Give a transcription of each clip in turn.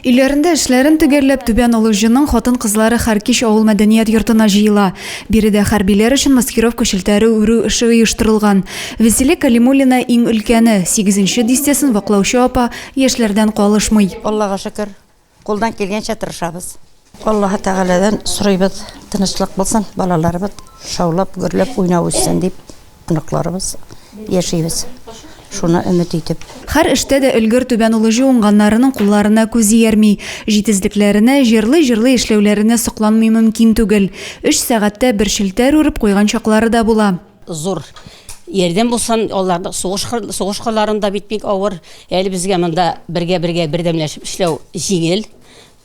Өйләрендә эшләрен төгәлләп, Түбән Олы Җының хатын-кызлары Хәркич авыл мәдәният йортына җыела. Биредә хәрбиләр өчен маскировка челтәре үрү эше оештырылган. Вәсилә Кәлимуллина, иң өлкәне. Сигезенче дистәсен ваклаучы апа яшьләрдән калышмый. Аллага шөкер. Кулдан килгәнчә тырышабыз. Аллаһы Тәгаләдән сорыйбыз, тынычлык булсын, балаларыбыз шаулап, гөрләп, уйнап үссен дип, оныкларыбыз яшибез. Шуны өмет итеп. Хәр эштә дә өлгер Түбән Улыҗы уңганнарының кулларына күз иярми. Җитезлекләренә, җырлый-җырлый эшләүләренә сокланмый мөмкин түгел. Өч сәгатьтә бер челтәр үреп куйган чаклары да була. Зур ярдәм булсын, алар сугыш сугыш кырларында бит бик авыр. Әле безгә монда бергә-бергә бердәмләшеп эшләү җиңел.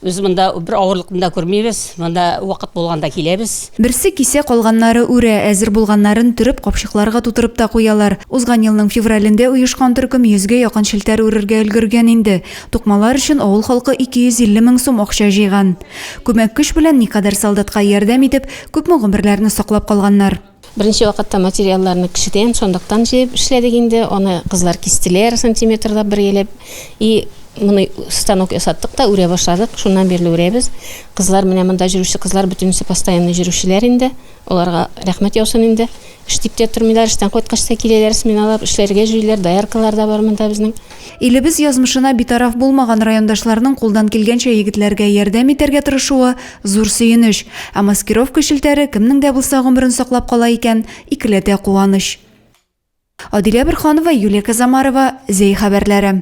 Без монда бер авырлыкны да күрмибез. Монда вакыт булганда киләбез. Берсе кисә, калганнары үрә, әзер булганнарын төреп, капчыкларга тутырып та куялар. Узган елның февралендә оешкан төркем йөзгә якын челтәр үрергә өлгергән инде. Тукмалар өчен авыл халкы 250 мең сум акча җыйган. Күмәк көч белән никадәр солдатка ярдәм итеп, күпме гомерләрне саклап калганнар. Беренче вакытта материалларны кешедән, сандыктан җыеп эшләдек инде. Аны кызлар кистеләр, сантиметрлап бергәләп. И моны станок ясаттык та, үрә башладык. Шуннан бирле үрәбез. Кызлар, менә монда җөрүче кызлар бөтенесе постоянный җөрүчеләр инде. Аларга рәхмәт яусын инде. Эш дип тә тормыйлар, эштән кайткач та киләләр, сменалап эшләргә җөриләр. Дояркалар да бар монда безнең. Илебез язмышына битараф булмаган райондашларның кулдан килгәнчә егетләргә ярдәм итәргә тырышуы, зур сөенеч. Ә маскировка челтәре кемнең дә булса гомерен саклап кала икән, икеләтә куаныч. Адилә Борһанова, Юлия Казамарова, Зәй хәбәрләре.